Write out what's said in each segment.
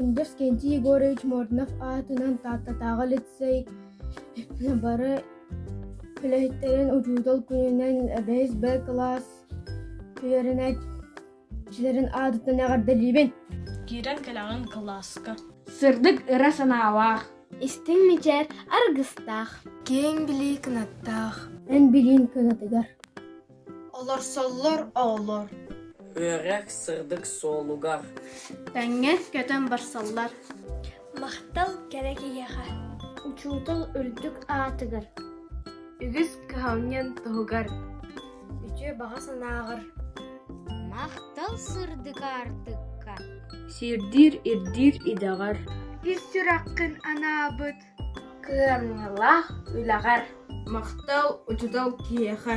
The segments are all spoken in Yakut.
Индоскэнтий Егорович Морднов аатынан Тааттатааҕы лицей бары үлэһиттэрин учуутал күнүнэн бэс б кылаас үөрэнээт Кичилэрин аатыттан эҕэрдэлиибин! Киирэн кэлэҕин кылааска. Сырдык ыра санаалаах. Истиҥ мичээр аргыстаах. Киэҥ билии кынаттаах. Эн билиин кынатыгар. Олорсоллор оҕолор. Үөрэх сырдык суолугар. Тэҥҥэ көтөн барсаллар. Махтал кэрэ киһиэхэ. Учуутал үрдүк аатыгар. Үгүс кыһалньан туһугар. үтүө баҕа санааҕар махтал сырдык аартыкка сиирдиир ирдиир идэҕэр ис сүрэххин анаабыт кыамньылаах үлэҕэр махтал учуутал киһиэхэ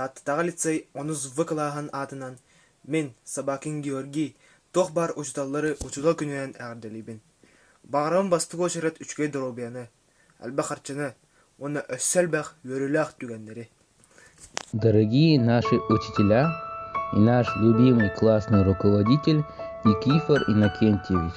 Тааттатааҕы лицей онус В кылааһын аатынан мин, Собакин Георгий, туох баар учууталлары учуутал күнүнэн эҕэрдэлиибин. Баҕарабын бастакы уочарат үчүгэй доруобуйаны, элбэх харчыны уонна өссө элбэх үөрүүлээх түгэннэри. Дорогие наши учителя и наш любимый классный руководитель Никифор Иннокентьевич!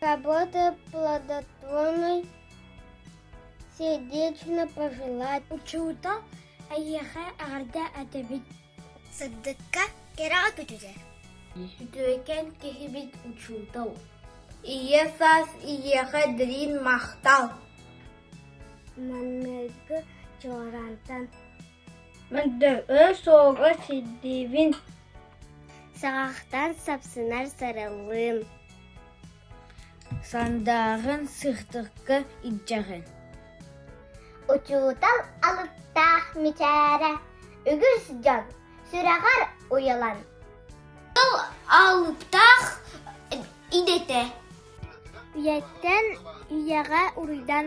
Работа плодотворной сердечно-пожелательной учуутал эйиэхэ эҕэрдэ этэбит сырдыкка кэрэҕэ көтүтэр үтүөкэн киһибит учуутал ийэ саас ийиэхэ дириҥ махтал Манныгы чуораантан Мөлдөөҕө суоҕа сирдиибин Саҕахтан сапсынар сарыллыым Сандааҕын сыхтыкка илдьэҕин Учуутал алыптаах мичээрэ Үгүс дьон сүрэҕэр уйалан Ол алыптаах идэтэ Үйэттэн үйэҕэ уруйдан